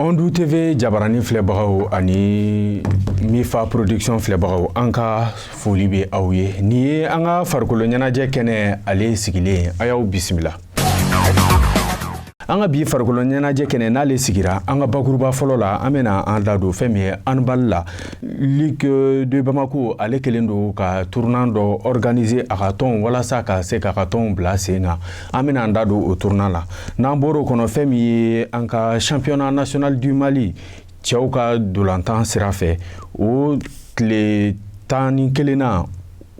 Ondu TV jabaranin filɛbagaw ani Mifa production filɛbagaw an ka foli bɛ aw ye nin ye an ka farikolo ɲɛnajɛ kɛnɛ ale sigilen a y'aw bisimila an ka bi farikolo ɲɛnajɛ kɛnɛ n'ale sigira an ka bakuruba fɔlɔ la an bɛna an da don fɛn min ye handball la ligue de bamako ale kɛlen don ka tournoi dɔ organiser a ka tɔnw walasa ka se k'a ka tɔnw bila sen kan an bɛna an da don o tournoi la n'an bɔr'o kɔnɔ fɛn min ye an ka championnat national du mali cɛw ka dolantan sira fɛ o tile tan ni kelen na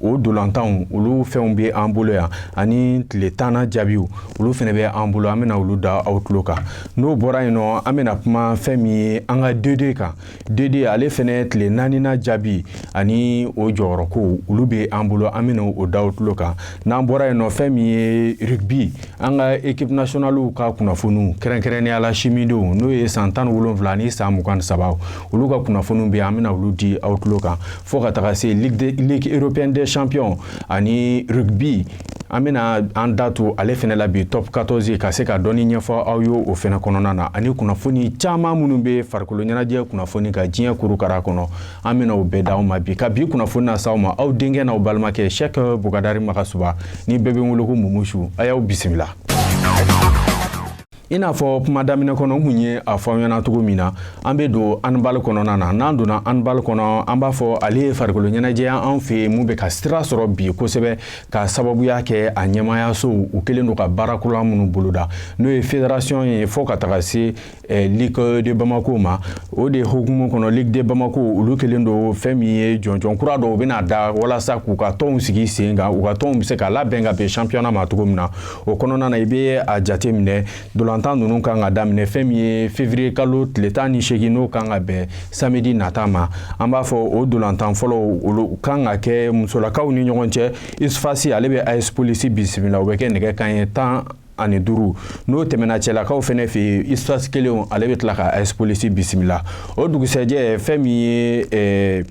o dolantanw olu fɛnw bɛ an bolo yan ani tile tanna jaabiw olu fɛnɛ bɛ an bolo an bɛna olu da aw tulo kan n'o bɔra yen nɔ an bɛna kuma fɛn min ye an ka D deux kan D deux ale fɛnɛ tile naanina jaabi ani o jɔyɔrɔko olu bɛ an bolo an bɛna o da aw tulo kan N'an bɔra yen nɔ fɛn min ye rugby an ka équipe nationale ka kunnafoniw kɛrɛnkɛrɛnnenya la simidenw n'o ye san tan ni wolonwula ni san mugan ni saba olu ka kunnafoniw bɛ an bɛna olu di aw tulo kan fo ka taga se ligue européenne des champions ani rugby an bɛna an da don ale fɛnɛ la bi top 14 ka se ka dɔɔni ɲɛfɔ aw ye o fɛnɛ kɔnɔna na ani kunnafoni caman minnu bɛ farikolo ɲɛnajɛ kunnafoni ka diɲɛ kurukara kɔnɔ an bɛna o bɛɛ d'aw ma bi ka bi kunnafoni nas'aw ma aw denkɛ n'aw balimakɛ Cheick Bukadari Magasuba ni bɛɛ bɛ wele ko mumusu a y'aw bisimila i n'a fɔ kuma daminɛ kɔnɔ n kun ye a f'aw ɲɛna cogo min na an bɛ don handball kɔnɔna na n'an donna handball kɔnɔ an b'a fɔ ale ye farikolo ɲɛnajɛ anw fɛ yan min bɛ ka sira sɔrɔ bi kosɛbɛ ka sababuya kɛ a ɲɛmaayasow u kɛlen don ka baara kura minnu boloda n'o ye federasiyɔn ye fo ka taga se Eh, Ligue de Bamako ma o de hukumu kɔnɔ Ligue de Bamako olu kelen don fɛn min ye jɔnjɔn kura dɔw bɛna da walasa k'u ka tɔnw sigi sen kan u ka tɔnw bɛ se ka labɛn ka bɛn championnat ma cogo min na o kɔnɔna na i bɛ a jate minɛ dolantan ninnu kan ka daminɛ fɛn min ye février kalo tile tan ni seegin n'o kan ka bɛn samedi nata ma an b'a fɔ o dolantan fɔlɔw olu kan ka kɛ musolakaw ni ɲɔgɔn cɛ USFAS ale bɛ AS Police bisimila o bɛ kɛ nɛgɛ kanɲɛ tan ani duuru n'o tɛmɛna cɛlakaw fɛnɛ fɛ USFAS kelen ale bɛ tila ka AS Police bisimila o dugusɛjɛ fɛn min ye eh,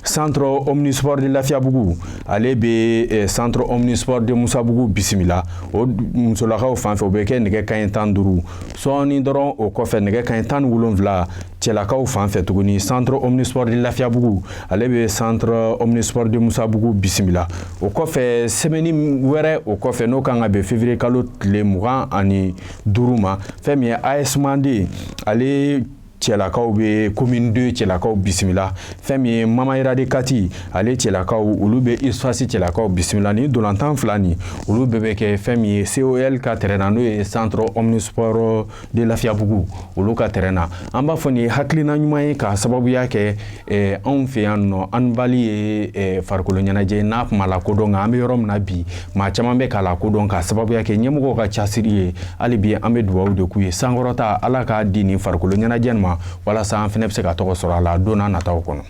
centre omnisport de lafiyabugu ale bɛ eh, centre omnisport de musabugu bisimila o musolakaw fan fɛ o bɛ kɛ nɛgɛ kanɲɛ tan duuru sɔɔni dɔrɔn o kɔfɛ nɛgɛ kanɲɛ tan ni wolonwula cɛlakaw fan fɛ tuguni centre omnisport de lafiyabugu ale bɛ centre omnisport de musabugu bisimila o kɔfɛ sɛmɛni wɛrɛ o kɔfɛ n'o kan ka bɛn février kalo tile mugan ani duuru ma fɛn min ye AS Manden ale cɛlakaw bɛ commune 2 cɛlakaw bisimila fɛn min ye mamayira de kati ale cɛlakaw olu bɛ usfas cɛlakaw bisimila nin dolantan fila nin olu bɛɛ bɛ kɛ fɛn min ye col ka tɛrɛn na n'o ye centre omnisport de lafiyabugu olu ka tɛrɛn na an b'a fɔ nin ye hakilina ɲuman ye k'a sababuya kɛ eh, anw fɛ yan nɔ handball ye eh, farikolo ɲɛnajɛ n'a kun ma lakodɔn nka an bɛ yɔrɔ min na bi maa caman bɛ k'a lakodɔn k'a sababuya kɛ ɲɛmɔgɔw ka casiri ye hali bi an bɛ dubaw de k'u ye sankɔrɔta ala k'a di nin farikolo ɲɛnajɛ ma walasa an fɛnɛ bɛ se ka tɔgɔ sɔrɔ a la don n'a nataw kɔnɔ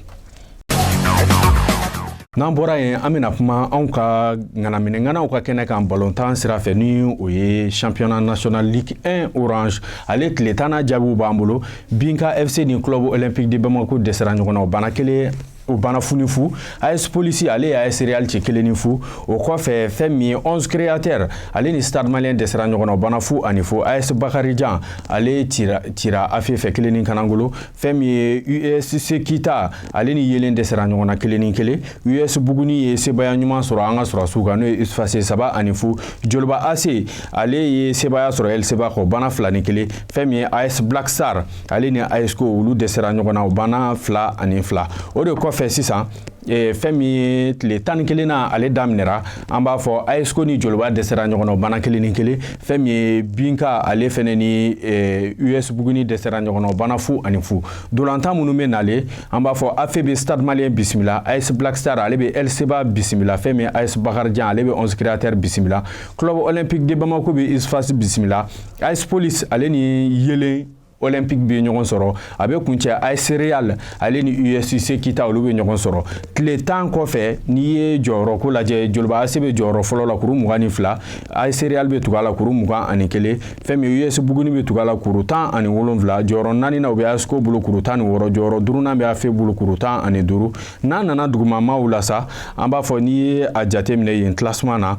N'an bɔra yen an bɛna kuma anw ka ŋanaminɛŋanaw ka kɛnɛ kan balontan sira fɛ ni o ye championnat national ligue 1 orange ale tile tan jaabiw b'an bolo binga fc ni club olympique de bamako dɛsɛra ɲɔgɔn na o bana kelen o bana fu ni fu as police ale ye as real ci kelen ni fu o kɔfɛ fɛn min ye onze créateurs ale ni stade malien dɛsɛra ɲɔgɔn na o bana fu ani fu as bakarijan ale cira afe fɛ kelen ni kanangolo fɛn min ye usc kita ale ni yelen dɛsɛra ɲɔgɔn na kelen ni kelen us buguni ye sebaya ɲuman sɔrɔ an ka sɔrɔdasiw kan n'o ye usfas saba ani fu joliba ac ale ye sebaya sɔrɔ lcba kan o bana fila ni kelen fɛn min ye as black star ale ni asko olu dɛsɛra ɲɔgɔn na o bana fila ani fila o de kɔfɛ sisan Eh, fɛn min ye tile tan ni kelennan ale daminɛra an b'a fɔ asko ni joliba dɛsɛra ɲɔgɔn na bana kelen ni kelen fɛn min ye binga ale fɛnɛ ni eh, us buguni dɛsɛra ɲɔgɔn na bana fu ani fu dolantan minnu bɛ nale an b'a fɔ afe bɛ stade malien bisimila as black star ale bɛ lcba bisimila fɛn min as bakarijan ale bɛ onze créateurs bisimila club olympique de bamako bɛ usfas bisimila as police ale ni yelen olympique bɛ ɲɔgɔn sɔrɔ a bɛ kuncɛ as real ale ni usc kita olu bɛ ɲɔgɔn sɔrɔ tile tan kɔfɛ n'i ye jɔyɔrɔ ko lajɛ joliba ac bɛ jɔyɔrɔ fɔlɔ la kuru mugan ni fila as real bɛ tugu a la kuru mugan ani kelen fɛn min us buguni bɛ tugu a la kuru tan ani wolonwula jɔyɔrɔ naaninan o bɛ asko bolo kuru tan ni wɔɔrɔ jɔyɔrɔ duurunan bɛ afe bolo kuru tan ani duuru n'a nana dugumamaw la sa an b'a fɔ n'i ye a jateminɛ yen classement na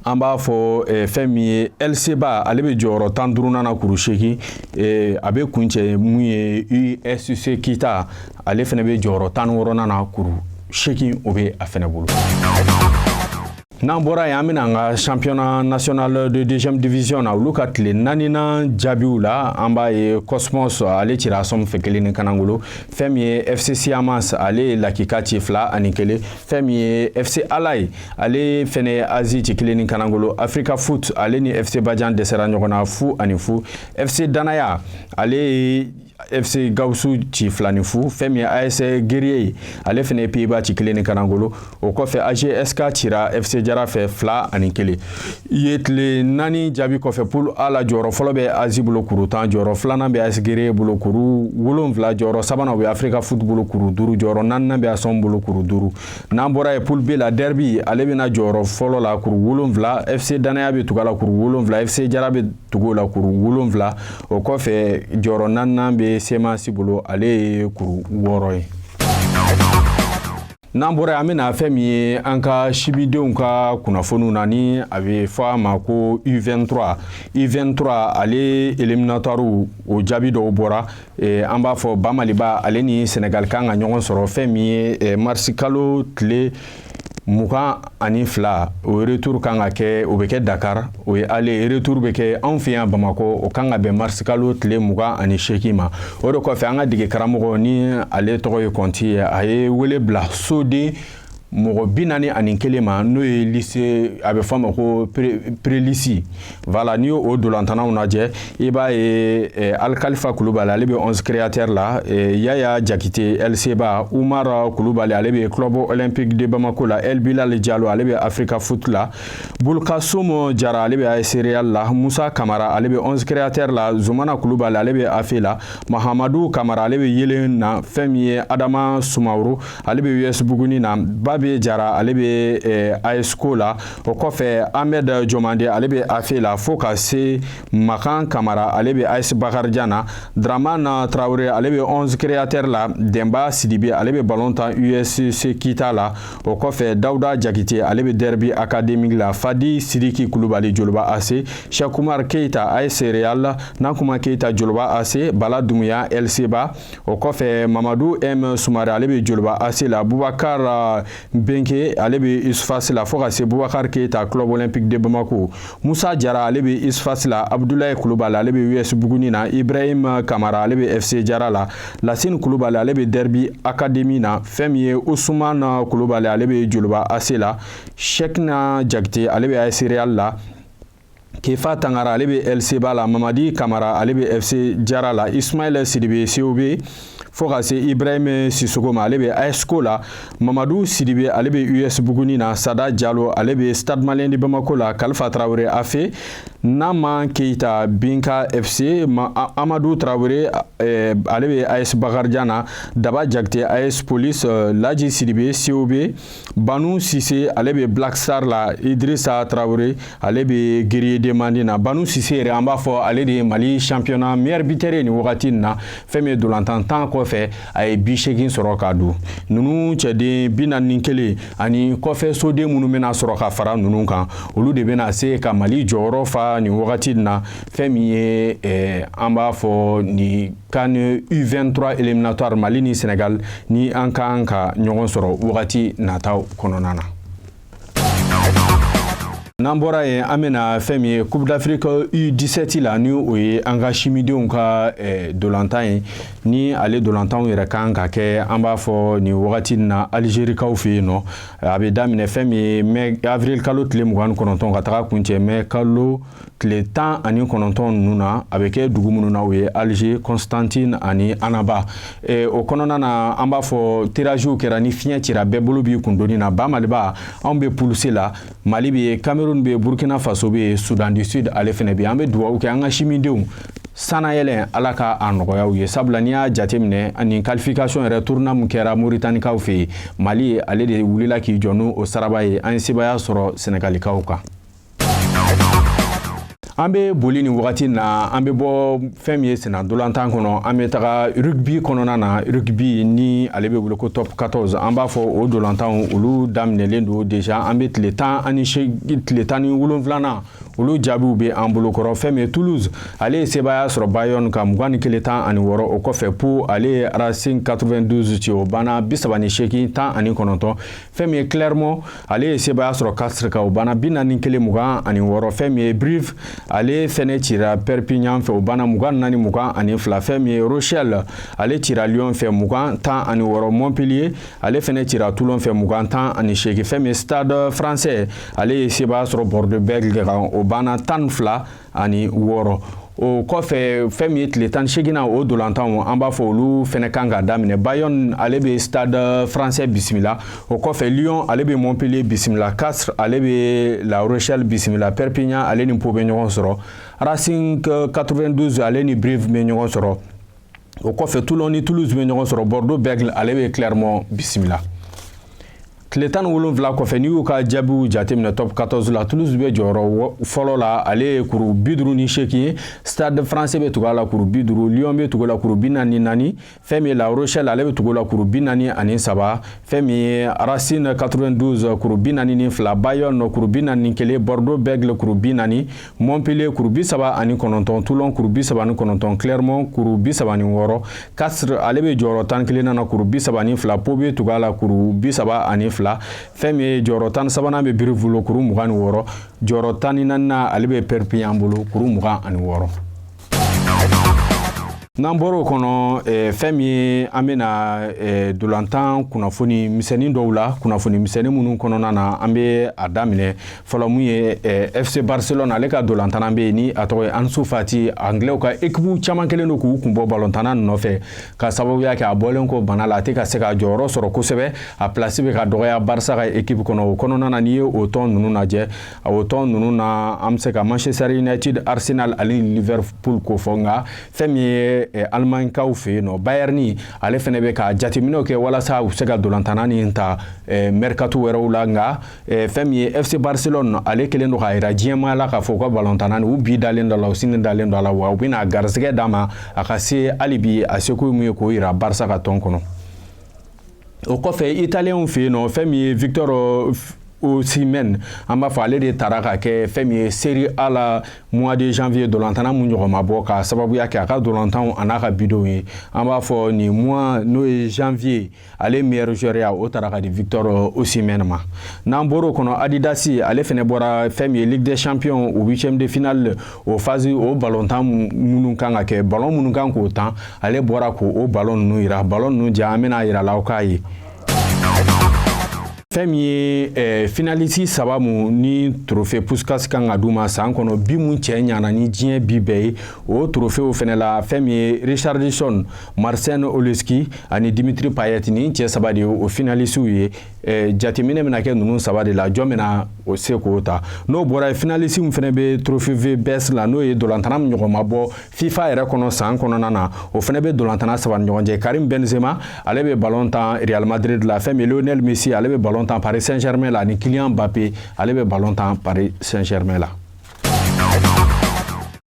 an b'a fɔ eh, fɛn min ye lcba ale bɛ jɔyɔrɔ tan ni duurunan na kuru seegin eh, a bɛ kuncɛ mun ye usc kita ale fɛnɛ bɛ jɔyɔrɔ tan ni wɔɔrɔnan na kuru seegin o bɛ a fɛnɛ bolo. n'an bɔra yen an bɛna an ka championnat national de deuxième division na olu ka tile naaninan jaabiw la an b'a ye cosmos ale cira sɔm fɛ kelen ni kanangolo fɛn min ye fc siamas ale ye lakika ci fila ani kelen fɛn min ye fc ale ye ale fɛnɛ azi ci kelen ni kanangolo africa foot ale ni fc bajan dɛsɛra ɲɔgɔn na fu ani fu fc danaya ale ye fc gawusu ci fila ni fu fɛn min as guerrier ye ale fɛnɛ ye piba ci kelen ni kanangolo o kɔfɛ agsk cira fc jara fɛ fila ani kelen ye tile naani jaabi kɔfɛ poule a la jɔyɔrɔ fɔlɔ bɛ azi bolo kuru tan jɔyɔrɔ filanan bɛ as guerrier bolo kuru wolonfila jɔyɔrɔ sabanan o bɛ africa foot bolo kuru duuru jɔyɔrɔ naaninan bɛ asom bolo kuru duuru n'an bɔra ye poule b la derbi ale bɛ na jɔyɔrɔ fɔlɔ la kuru wolonfila fc danaya bɛ tugu a la kuru wolonfila fc jara bɛ tugu o la kuru wolonfila o kɔfɛ jɔyɔrɔ naaninan bɛ semasi bolo ale ye kuru wɔɔrɔ ye n'an bɔra ye an bɛ na fɛn min ye an ka sibidenw ka kunnafoniw na ni a bɛ fɔ a ma ko u23 u23 ale eliminatɔriw o jaabi dɔw bɔra Eh, an b'a fɔ ba maliba ale ni senegali kan ka ɲɔgɔn sɔrɔ fɛn min ye eh, marisi kalo tile mugan ani fila o retour kan ka kɛ o bɛ kɛ dakar o ye aller retour bɛ kɛ anw fɛ yan bamakɔ o kan ka bɛn marisi kalo tile mugan ani seegin ma o de kɔfɛ an ka dege karamɔgɔ ni ale tɔgɔ ye kɔnti ye a ye wele bila soden mɔgɔ bi naani ani kelen ma n'o ye lisi a bɛ fɔ a ma ko perelisi voilà n'i y'o ntolantannaw lajɛ i b'a ye eh, alikalifa kulubali ale bɛ onze créateurs la eh, yaya jakite lcba umaru kulubali ale bɛ club olympique de bamako la el bilal jalo ale bɛ africa foot la bulukasumu jara ale bɛ as real la musa kamara ale bɛ onze créateurs la zumana kulubali ale bɛ afe la mahamadu kamara ale bɛ yelen na fɛn min ye adama sumaworo ale bɛ us buguni na babe jara ale bɛ asko la o kɔfɛ amɛdi jomande ale bɛ afe la fo ka se makan kamara ale bɛ as bakarijan na daramani tarawele ale bɛ onze créateurs la denba sidibe ale bɛ balon tan usc kita la o kɔfɛ dawuda jakite ale bɛ derbi akademiki la fadi sidiki kulubali joliba ase sɛku umaru keyita as real nankuma keyita joliba ase bala dunbuya lcba o kɔfɛ mamadu m sumare ale bɛ joliba ase la bubakari uh, benke ale bɛ usfas la fo ka se bubakari keyita club olympique de bamako musa jara ale bɛ usfas la abudulayi kulubali ale bɛ us buguni na ibrahim kamara ale bɛ fc jara la lasini kulubali ale bɛ derbi akademi na fɛn min ye usumana kulubali ale bɛ joliba ase la shekina jakite ale bɛ as real la kefa tangara ale bɛ lcba la mamadi kamara ale bɛ fc jara la ismaɛlɛ sidibe cob fo ka se ibrahim sisogo ma ale bɛ asko la mamadu sidibe ale bɛ us buguni na sada jalo ale bɛ stade malien de bamako la kalifa tarawele afe nama keyita binga fc amadu tarawele eh, ale bɛ as bakarijan na daba jakite as police eh, laji sidibe cob Banu Sise ale bɛ Black Star la Idirisa Tarawele ale bɛ Guerrier de Mande na Banu Sise yɛrɛ an b'a fɔ ale de ye Mali championnat meilleur buteur ye nin wagati nin na fɛn min ye dolantan tan kɔfɛ a ye bi seegin sɔrɔ k'a don ninnu cɛden bi naani ni kelen ani kɔfɛ soden minnu bɛna sɔrɔ ka fara ninnu kan olu de bɛna se ka Mali jɔyɔrɔ fa nin wagati nin na fɛn min ye ɛɛ eh, an b'a fɔ nin CAN U23 éliminatoire Mali ni Sénégal ni an kan ka ɲɔgɔn sɔrɔ wagati nataw kɔnɔna na. n'an bɔra yen an bɛna fɛn min ye coupe d'afrique u17 la ni o ye an ka simidenw ka eh, dolantan ye ni ale dolantanw yɛrɛ kan ka kɛ an b'a fɔ nin wagati na algerikaw fɛ yen nɔ a bɛ daminɛ fɛn min ye mai avril kalo tile mugan ni kɔnɔntɔn ka taga kuncɛ mai kalo tile tan ani kɔnɔntɔn ninnu na a bɛ kɛ dugu minnu na o ye alger constantine ani annaba e, o kɔnɔna na an b'a fɔ tiraziw kɛra ni fiɲɛ cira bɛɛ bolo b'i kundoni na ba maliba anw bɛ poule C la mali bɛ yen cameroun bɛ burkina faso bɛ soudan du sud ale fɛnɛ bɛ an bɛ dugawu kɛ an ka simidenw sanayɛlɛn ala ka a nɔgɔya u ye sabula n'i y'a jateminɛ nin qualification yɛrɛ tournoi min kɛra moritanikaw fɛ yen mali ale de wulila k'i jɔ n'o saraba ye an ye sebaya sɔrɔ senegalikaw kan an bɛ boli nin wagati na an bɛ bɔ fɛn min ye sennadolantan kɔnɔ an bɛ taga rugby kɔnɔna na rugby ni ale bɛ wele ko top 14 an b'a fɔ o dolantanw olu daminɛlen don déjà an bɛ tile tan ni wolonwulanan olu jaabiw bɛ an bolokɔrɔ fɛn min ye toulouse ale ye sebaaya sɔrɔ bayonne kan mugan ni kelen tan ani wɔɔrɔ o kɔfɛ pau ale ye racing 92 ci o banna bi saba ni seegin tan ani kɔnɔntɔn fɛn min ye clermont ale ye sebaaya sɔrɔ castres kan o banna bi naani kelen mugan ani wɔɔrɔ fɛn min ye brive ale fɛnɛ cira perpignan fɛ o banna mugan naani mugan ani fila fɛn min ye rochelle ale cira lyon fɛ mugan tan ani wɔɔrɔ montpellier ale fɛnɛ cira toulon fɛ mugan tan ani seegin fɛn min ye stade français ale ye sebaaya sɔrɔ bordeaux bègles kan o banna tan ni fila ani wɔɔrɔ o kɔfɛ fɛn min ye tile tan ni seginnan o dolantanw an b'a fɔ olu fɛnɛ kan ka daminɛ bayonne ale bɛ stade français bisimila o kɔfɛ lyon ale bɛ montpellier bisimila castres ale bɛ la rochelle bisimila perpignan ale ni pau bɛ ɲɔgɔn sɔrɔ racing 92 ale ni brive bɛ ɲɔgɔn sɔrɔ o kɔfɛ toulon ni toulouse bɛ ɲɔgɔn sɔrɔ bordeaux bègles ale bɛ clermont bisimila tile tan ni wolonwula kɔfɛ n'i y'u ka jaabiw jateminɛ top 14 la toulouse bɛ jɔyɔrɔ fɔlɔ la ale ye kuru bi duuru ni seegin ye stade français bɛ tugu a la kuru bi duuru lyon bɛ tugu a la kuru bi naani naani fɛn min ye la rochelle ale bɛ tugu a la kuru bi naani ani saba fɛn min ye racing 92 kuru bi naani ni fila bayonne kuru bi naani kelen bordeaux bègles kuru bi naani montpellier kuru bi saba ani kɔnɔntɔn toulon kuru bi saba ni kɔnɔntɔn clermont kuru bi saba ni wɔɔrɔ castres ale bɛ jɔyɔrɔ tan kelennan na kuru bi saba ni fila pau bɛ tugu a la kuru bi saba ani fila fɛn min ye jɔyɔrɔ tan sabanan bɛ brive bolo kuru mugan ni wɔɔrɔ jɔyɔrɔ tan ni naaninan ale bɛ perpignan bolo kuru mugan ani wɔɔrɔ n'an bɔr'o kɔnɔ eh, fɛn min ye an bɛna eh, dolantan kunnafoni misɛnnin dɔw la kunnafoni misɛnnin minnu kɔnɔna na an bɛ a daminɛ fɔlɔ mun ye eh, fc barcelone ale ka dolantanna bɛ yen ni a tɔgɔ ye ansu fati anglɛw ka ekipu caman kɛlen don k'u kun bɔ balontanna nɔfɛ ka sababuya kɛ a bɔlen kɔ bana la a tɛ ka se ka jɔyɔrɔ sɔrɔ kosɛbɛ a pilasi bɛ ka dɔgɔya barisa ka ekipu kɔnɔ o kɔnɔna na n'i ye o tɔn ninnu lajɛ o tɔn ninnu na an bɛ se ka manchester united arsenal ani liverpool ko fɔ nka fɛn min ye eh, alimaɲikaw fɛ yen nɔ bayern ale fɛnɛ bɛ ka jateminɛw kɛ walasa u se ka dolantanna nin ta eh, mercato wɛrɛw la nka eh, fɛn min ye fc barcelone ale kɛlen don k'a yira diɲɛmaa la k'a fɔ u ka balontanna u bi dalen d'o la u sini dalen d'o la wa u bɛna garisɛgɛ d'a ma a ka se hali bi a seko min ye k'o yira barisa ka tɔn kɔnɔ o kɔfɛ italienw fɛ yen nɔ fɛn min ye victor osimhen an b'a fɔ ale de tara ka kɛ fɛn min ye serie a la mois de janvier dolantanna mun ɲɔgɔn ma bɔ ka sababuya kɛ a ka dolantanw a n'a ka bidonw ye an b'a fɔ nin mois n'o ye janvier ale meilleur joueur ya o tara ka di victor osimhen ma n'an bɔr'o kɔnɔ adidasi ale fɛnɛ bɔra fɛn min ye ligue des champions o huitième de finale o fazi o balontan minnu kan ka kɛ balon minnu kan k'o tan ale bɔra k'o balon ninnu yira balon ninnu ja an bɛna a yira la aw k'a ye fɛn min ye eh, finalisi saba mu ni trofe puskas kan ka d'u ma san kɔnɔ bi mu cɛ ɲana ni diɲɛ bi bɛɛ ye o trofew fɛnɛ la fɛn min ye richarlison marcin oleksy ani dimitri payet nin cɛ saba de ye o finalisiw ye Eh, jateminɛ bɛna kɛ ninnu saba de la jɔn bɛna o se k'o ta n'o bɔra yen finalisi min fɛnɛ bɛ trofe the best la n'o ye dolantanna min ɲɔgɔn ma bɔ fifa yɛrɛ kɔnɔ san kɔnɔna na o fɛnɛ bɛ dolantanna saba ni ɲɔgɔn cɛ karim benzema ale bɛ balon tan real madrid la fɛn min lionel messi ale bɛ balon tan paris saint germain la ani kylian mbappe ale bɛ balon tan paris saint germain la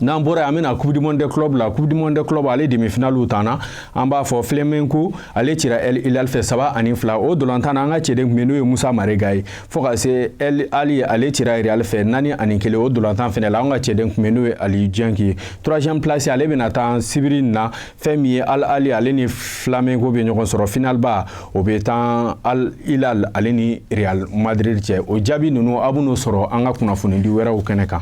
n'an bɔra yen an bɛna coupe du monde de club la coupe du monde de club ale demi-finali tanna an b'a fɔ Flamengo ale cira El Hilal fɛ saba ani fila o dolantan na an ka cɛden kun bɛ n'o ye Musa Marega ye fo ka se El Ahly ale cira Real fɛ naani ani kelen o dolantan fɛnɛ la an ka cɛden kun bɛ n'o ye Aliou Dieng ye troisième place ale bɛna tan sibiri na fɛn min ye al ahly ale ni flamengo bɛ ɲɔgɔn sɔrɔ finalba o bɛ tan al hilal ale ni real madrid cɛ o jaabi ninnu a bɛn'o sɔrɔ an ka kunnafonidi wɛrɛw kɛnɛ kan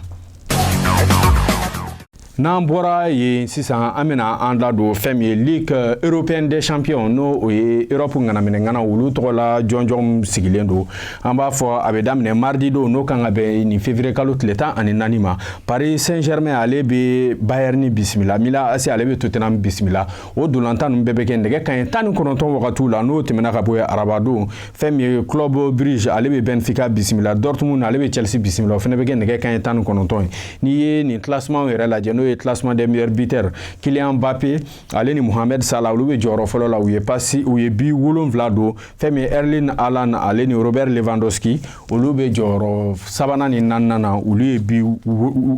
n'an bɔra yen sisan an bɛna an da don fɛn min ye ligue euh, européenne des champions n'o o ye europe ŋanaminɛŋana olu tɔgɔ la jɔnjɔn sigilen don an b'a fɔ a bɛ daminɛ mardi don n'o kan ka bɛn nin février kalo tile tan ani naani ma paris saint germain ale bɛ bayern bisimila milan ac ale bɛ tottenham bisimila o dolantan ninnu bɛɛ bɛ kɛ nɛgɛ kaɲɛ tan ni kɔnɔntɔn wagatiw la n'o tɛmɛna ka bɔ yen araba don fɛn min ye club brugge ale bɛ benfica bisimila dortmund ale bɛ chelsea bisimila o fana bɛ kɛ nɛgɛ kaɲɛ tan ni kɔnɔntɔn ye n'i ye nin classement yɛrɛ lajɛ n'o ye classement des meilleurs buteurs kylian mbappé ale ni mohamed salah olu bɛ jɔyɔrɔ fɔlɔ la u ye pasi u ye bi wolonwula don fɛn min ye erling haaland ale ni robert lewandowski olu bɛ jɔyɔrɔ sabanan ni naaninan na olu ye bi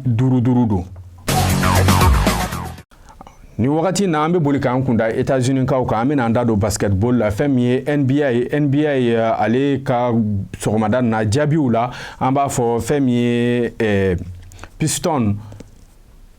duuru duuru don nin wagati na an bɛ boli k'an kunda états-unis kaw kan an bɛna an da don basketball la fɛn min ye nba nba eh, ale ka sɔgɔmada na jaabiw la an b'a fɔ fɛn min ye eh, piston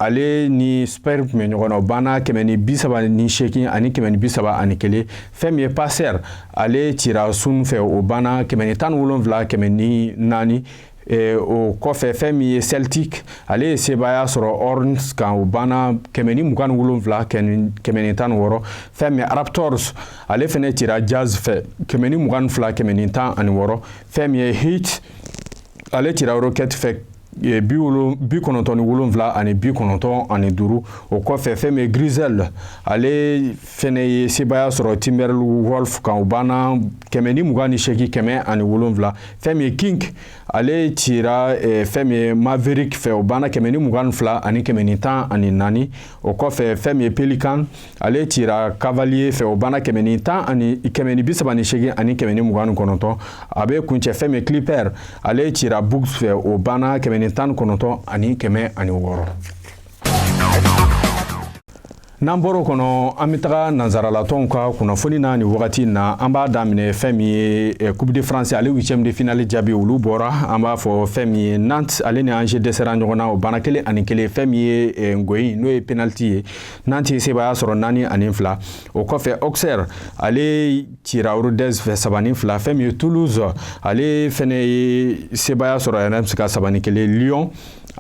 ale ni spurs tun bɛ ɲɔgɔn na o banna kɛmɛ ni bi saba ni seegin ani kɛmɛ ni bi saba ani kelen fɛn min ye pacers ale cira sun fɛ o banna kɛmɛ ni tan ni wolonwula kɛmɛ ni naani eh, o kɔfɛ fɛn min ye celtic ale ye sebaaya sɔrɔ hornets kan o banna kɛmɛ ni mugan ni wolonwula kɛmɛ ni tan ni wɔɔrɔ fɛn min raptors ale fɛnɛ cira jazz fɛ kɛmɛ ni mugan ni fila kɛmɛ ni tan ani wɔɔrɔ fɛn min ye heat ale cira rocket fɛ Eh, bi bi kɔnɔntɔn ni wolonwula ani bi kɔnɔntɔn ani duuru o kɔfɛ fɛn min ye grizzlies ale fɛnɛ ye sebaaya sɔrɔ timberwolves kan o banna kɛmɛ ni mugan ni seki kɛmɛ ani wolonwula fɛn min ye king ale cira eh, fɛn min ye maverick fɛ o banna kɛmɛ ni mugan ni fila ani kɛmɛ ni tan ani naani o kɔfɛ fɛn min ye pelican ale cira cavalier fɛ o banna kɛmɛ ni tan ani kɛmɛ ni bi saba ni seegin ani kɛmɛ ni mugan ni kɔnɔntɔn a bɛ kuncɛ fɛn min clipper ale cira bucks fɛ o banna kɛmɛ ni tan ni kɔnɔntɔn ani kɛmɛ ani wɔɔrɔ n'an bɔr'o kɔnɔ an bɛ taga nansarala tɔnw ka kunnafoni na nin wagati in na an b'a daminɛ fɛn min ye eh, coupe de france ale huitième de finale jaabi olu bɔra an b'a fɔ fɛn min ye nantes ale ni angers dɛsɛra ɲɔgɔn na o banna kelen ani kelen fɛn min ye eh, gɔyi n'o ye penaliti ye nantes ye sebaaya sɔrɔ naani ani fila o kɔfɛ auxerre ale cira rodez fɛ saba ni fila fɛn min ye toulouse ale fɛnɛ ye sebaaya sɔrɔ reims kan saba ni kelen lyon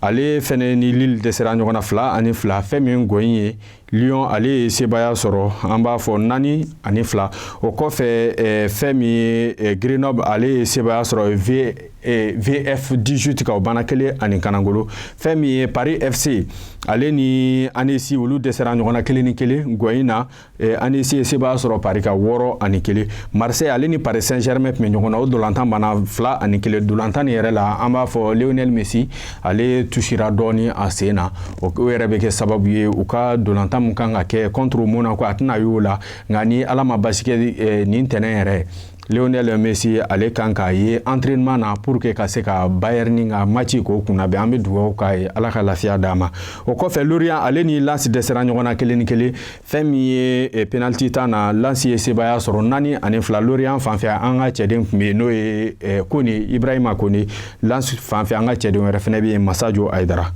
ale fɛnɛ ni lille dɛsɛra ɲɔgɔn na fila ani fila fɛn min gɔyi ye lyon ale ye sebaaya sɔrɔ an b'a fɔ naani ani fila o kɔfɛ eh, fɛn min ye eh, grenoble ale ye sebaaya sɔrɔ v Eh, vf 18 kan o banna kelen ani kanagolo fɛn min ye paris fc ale ni annecy olu dɛsɛra ɲɔgɔn na kelen ni kelen gɔyi na eh, annecy ye sebaaya sɔrɔ paris kan wɔɔrɔ ani kelen marseille ale ni paris saint germain tun bɛ ɲɔgɔn na o dolantan banna fila ani kelen dolantan yɛrɛ la an b'a fɔ lionel messi ale tusira dɔɔni a sen na o yɛrɛ bɛ kɛ sababu ye u ka dolantan min kan ka kɛ contre monaco a tɛna y'o la nka ni ala ma basi kɛ eh, nin tɛnɛn yɛrɛ Lionel Messi ale kan k'a ye entraînement na pour que ka se ka Bayern ka maci k'o kunna bɛn an bɛ dugawu k'a ye ala ka lafiya d'a ma o kɔfɛ Lorient ale ni Lens dɛsɛra ɲɔgɔn na kelen ni kelen fɛn min ye eh, penalty tan na Lens ye sebaaya sɔrɔ naani ani fila Lorient fanfɛ an ka cɛden tun bɛ yen n'o ye eh, Kone Ibrahima Kone Lens fanfɛ an ka cɛden wɛrɛ fɛnɛ bɛ yen Massadio Haïdara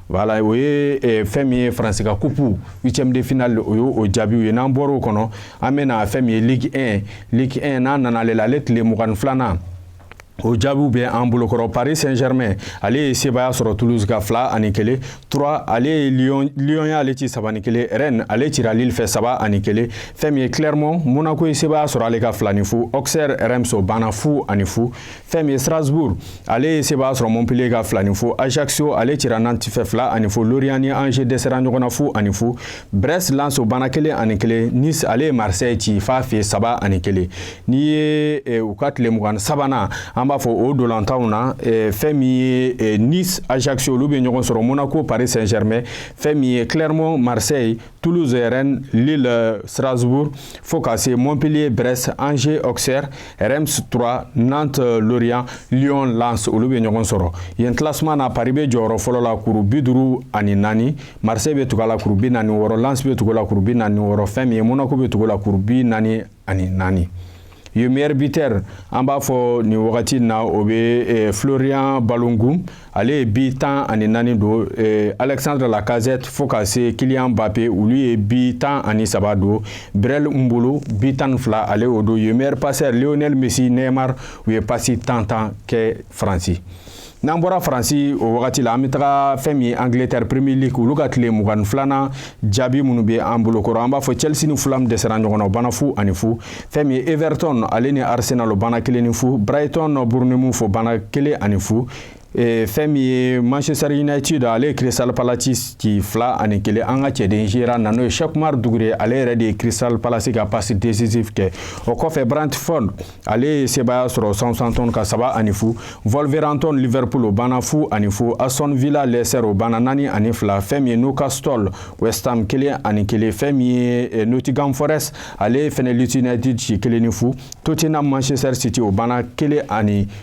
Voilà o ye eh, fɛn min ye faransi ka kupu huitième de finale o ye o jaabiw ye n'an bɔra o kɔnɔ an bɛ na fɛn min ye ligue 1 ligue 1 n'an nana ale la ale tile mugan ni filanan o jaabiw bɛ an bolokɔrɔ paris saint germain ale ye sebaaya sɔrɔ toulouse ka fila ani kelen troyes ale ye lyon lyon y'ale ci saba ni kelen rennes ale cira lille fɛ saba ani kelen fɛn min ye clermont monaco ye sebaaya sɔrɔ ale ka fila ni fu auxerre reims o banna fu ani fu fɛn min ye strasbourg ale ye sebaaya sɔrɔ montpellier ka fila ni fu ajaccio ale cira nantes fɛ fila ani fu lorient ni angers dɛsɛra ɲɔgɔn na fu ani fu brest lens o banna kelen ani kelen nice ale ye marseille ci f'a fɛ saba ani kelen n'i ye eh, u ka tile mugan sabanan an b'a fɔ o ntolatanw na eh, fɛn min ye eh, nice ajaccio olu bɛ ɲɔgɔn sɔrɔ monaco paris saint germain fɛn min ye clermont marseille Toulouse, Rennes, Lille, euh, Strasbourg, fo ka se Montpellier, Brest, Angers, Auxerre, Reims, Troyes, Nantes, euh, Lorient, Lyon, Lens, olu bɛ ɲɔgɔn sɔrɔ. Yen classement na Paris bɛ jɔyɔrɔ fɔlɔ la kuru bi duuru ani naani, Marseille bɛ tugu a la kuru bi naani wɔɔrɔ, Lens bɛ tugu a la kuru bi naani wɔɔrɔ, fɛn min ye Monaco bɛ tugu a la kuru bi naani ani naani. yen meilleur buteur an b'a fɔ nin wagati na o bɛ eh, Florian Balogun ale ye bi tan ani naani don eh, Alexandre Lacazette fo ka se Kylian Mbappé olu ye bi tan ani saba don Breel Embolo bi tan ni fila ale y'o don yen meilleur passeur Lionel Messi Neymar u ye pasi tan tan kɛ Faransi. n'an bɔra faransi o wagati la an bɛ taga fɛn min ye angleterre premier league olu ka tile mugan ni filanan jaabi minnu bɛ an bolokɔrɔ an b'a fɔ chelsea ni fulham dɛsɛra ɲɔgɔn na o banna fu ani fu fɛn min ye everton ale ni arsenal o banna kelen ni fu brighton bournemouth o banna kelen ani fu Eh, fɛn min ye manchester united ale ye crystal palace ci fila ani kelen an ka cɛden gera na n'o ye cheick oumar doucouré ale yɛrɛ de ye crystal palace ka passe décisif kɛ o kɔfɛ brentford ale ye sebaaya sɔrɔ Southampton ka saba ani fu, Wolverhampton Liverpool o banna fu ani fu, Aston Villa Leicester o banna naani ani fila, fɛn min ye Newcastle West Ham kelen ani kelen, fɛn min ye eh, Nottingham Forest ale fɛnɛ Leeds United ci kelen ni fu, Tottenham Manchester City o banna kelen ani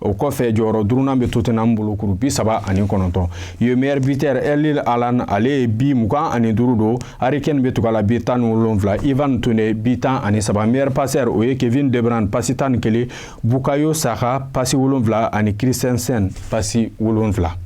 o kɔfɛ jɔyɔrɔ duurunan bɛ Tottenham bolo kuru bi saba ani kɔnɔntɔn yen meilleur buteur Erling Haaland ale ye bi mugan ani duuru don Harry Kane bɛ tugu a la bi tan ni wolonwula Ivan Toney bi tan ani saba meilleur passeur o ye Kevin De Bruyne pasi tan ni kelen Bukayo Saka pasi wolonwula ani Christensen pasi wolonwula.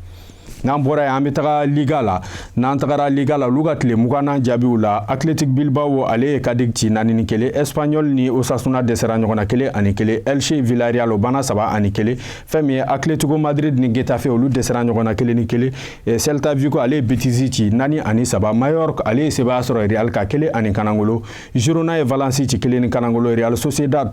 n'an bɔra yen an bɛ taga liga la n'an tagara liga la olu ka tile mugannan jaabiw la athletic bilbao ale ye cadix ci naani ni kelen espanyol ni osasuna dɛsɛra ɲɔgɔn na kelen ani kelen elche villarreal o banna saba ani kelen fɛn min ye atletico madrid ni getafe olu dɛsɛra ɲɔgɔn na kelen ni kelen eh, celta vigo ale ye betis ci naani ani saba majorque ale ye sebaya sɔrɔ real kan kelen ani kanangolo girona ye valence ci kelen ni kanangolo real sociedad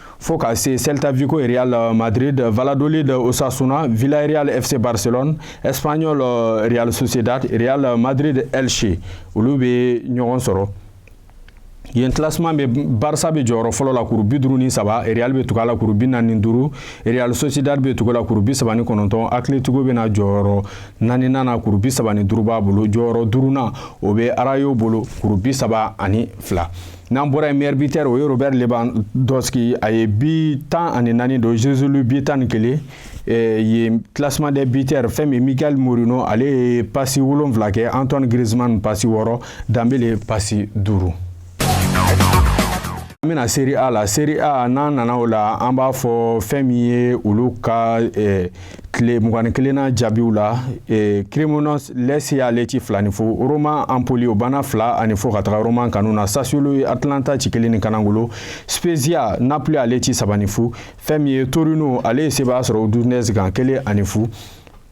fo ka se Celta Vigo Real Madrid, Valladolid Osasuna, Villarreal FC Barcelone, Espanyol euh, Real Sociedad, Real Madrid Elche. Olu bɛ ɲɔgɔn sɔrɔ. yen classement bɛ barça bɛ jɔyɔrɔ fɔlɔ la kuru bi duuru ni saba real bɛ tugu a la kuru bi naani ni duuru real sociedad bɛ tugu a la kuru bi saba ni kɔnɔntɔn atletico bɛna jɔyɔrɔ naaninan na kuru bi saba ni duuru b'a bolo jɔyɔrɔ duurunan o bɛ rayo bolo kuru bi saba ani fila N'an bɔra yen meilleur buteur o ye robert lewandowski a ye bi tan ani naani don joselu bi tan ni kelen ye classement des buteurs fɛn min ye mikel merino ale ye pasi wolonwula kɛ antoine griezmann pasi wɔɔrɔ dembele pasi duuru an bɛna serie a la serie a n'an nana o la an b'a fɔ fɛn min ye olu ka tile mugan ni kelennan jaabiw la eh, cremonese lecce ale ci fila ni fu roma empoli o banna fila ani fu ka taga roma kanu na sassuolo ye atalanta ci kelen ni kanangolo spezia napoli ale ci saba ni fu fɛn min ye torino ale ye sebaya sɔrɔ udinese kan kelen ani fu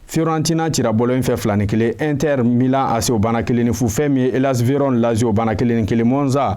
fiorentina cira bologne fɛ fila ni kelen inter milan ac o banna kelen ni fu fɛn min ye hellas vérone lazio o banna kelen ni kelen monza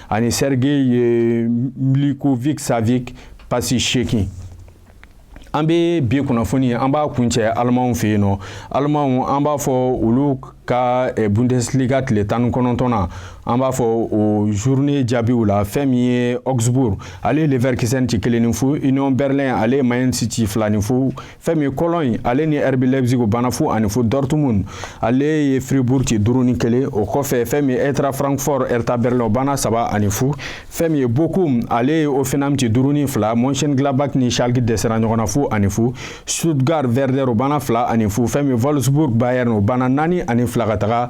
ani sergej milinkovic savic pasi seegin an bɛ bi kunnafoni an b'a kuncɛ alimaw fɛ yen nɔ alimaw an b'a fɔ olu ka eh, bundesliga tile tan ni kɔnɔntɔnnan an b'a fɔ o journée jaabiw la fɛn min ye augsbourg ale ye leverkusen ci kelen ni fu union berlin ale ye mayence ci fila ni fu fɛn min ye cologne ale ni rb leipzig o banna fu ani fu dortmund ale ye fribourg ci duuru ni kelen o kɔfɛ fɛn min ye eintracht francfort hertha berlin o banna saba ani fu fɛn min ye bochum ale ye hoffenheim ci duuru ni fila mönchengladbach ni schalke dɛsɛra ɲɔgɔn na fu ani fu stuttgart werder o banna fila ani fu fɛn min ye wolfsburg bayern o banna naani ani fila ka taga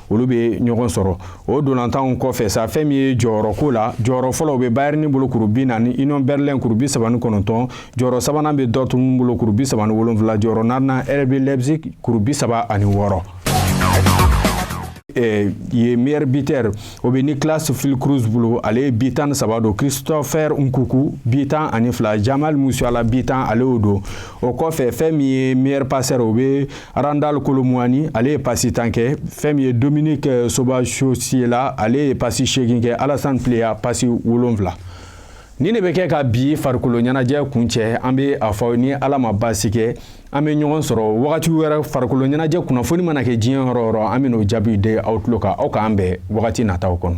olu bɛ ɲɔgɔn sɔrɔ o ntolatanw kɔfɛ sa fɛn min ye jɔyɔrɔko la jɔyɔrɔ fɔlɔ bɛ Bayern bolo kuru bi naani Union Berlin kuru bi saba ni kɔnɔntɔn jɔyɔrɔ sabanan bɛ Dortmund bolo kuru bi saba ni wolonwula jɔyɔrɔ naaninan RB Leipzig kuru bi saba ani wɔɔrɔ eh, yen meilleur buteur o bɛ Niklas Füllkrug bolo ale ye bi tan ni saba don Christopher Nkunku bi tan ani fila Jamal Musiala bi tan ale y'o don o kɔfɛ fɛn min ye meilleur passeur o bɛ Randal Kolo Muani ale ye pasi tan kɛ fɛn min ye Dominik Szoboszlai ale ye pasi seegin kɛ Alassane Pléa pasi wolonfila nin de bɛ kɛ ka bi farikolo ɲɛnajɛ kuncɛ an bɛ a fɔ ni Ala ma baasi kɛ an bɛ ɲɔgɔn sɔrɔ wagati wɛrɛ farikolo ɲɛnajɛ kunnafoni mana kɛ diɲɛ yɔrɔ o yɔrɔ an bɛ n'o jaabi di aw tulo kan aw k'an bɛn wagati nataw kɔnɔ